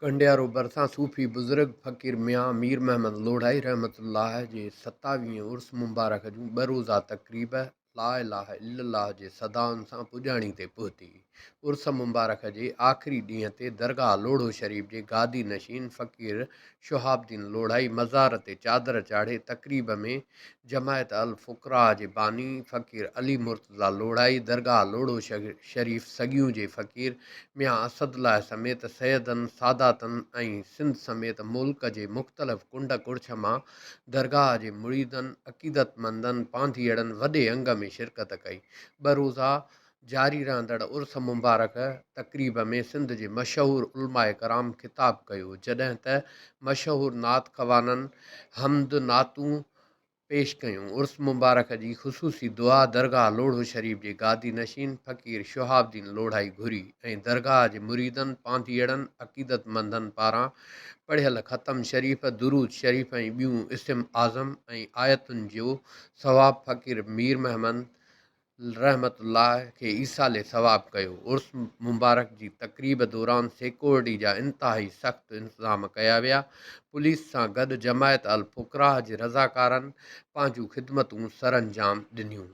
ڪنڊيارو ڀرسان صوفي بزرگ فقير ميان مير محمد لوڙهائي رحمة الله جي ستاويهين عرس مبارڪ جون ٻه روزه تقريب لا اله الا الله جي صدائن سان پڄاڻي تي پهتي. عرس مبارڪ جي آخري ڏينهن تي درگاهه لوڙهو شريف جي گادي نشين فقير شهاب الدين لوڙهائي مزار تي چادر چاڙهي تقريب ۾ جماعت الفقراء جي باني فقير علي مرتضيٰ لوڙهائي، درگاهه لوڙهو شريف سڳيون جي فقير ميان اسد الله سميت سيدن، ساداتن ۽ سنڌ سميت ملڪ جي مختلف ڪنڊ ڪڙڇ مان درگاهه جي مريدن، عقيدتمندن، پانڌيئڙن وڏي انگ ۾ شرڪت ڪئي. ٻه روزه جاري رهندڙ عرس مبارڪ تقريب ۾ سنڌ جي مشهور علماء ڪرام خطاب ڪيو جڏهن ته مشهور نعت خوانن حمد نعتون پيش ڪيون عرس مبارڪ جي خصوصي دعا درگاهه لوڙهو شريف جي گادي نشين فقير شهاب الدين لوڙهائي گهري ۽ درگاهه جي مريدن پانڌيئڙن عقيدتمندن پاران پڙهيل ختم شريف درود شريف ۽ ٻيون اسم اعظم ۽ آيتن جو ثواب فقير ميرمحمد رحمة الله کي ايصال ثواب ڪيو. عرس مبارڪ جي تقريب دوران سيڪورٽي جا انتهائي سخت انتظام ڪيا ويا. پوليس سان گڏ جماعت الفقراء جي رضاڪارن پنهنجون خدمتون سرانجام ڏنيون.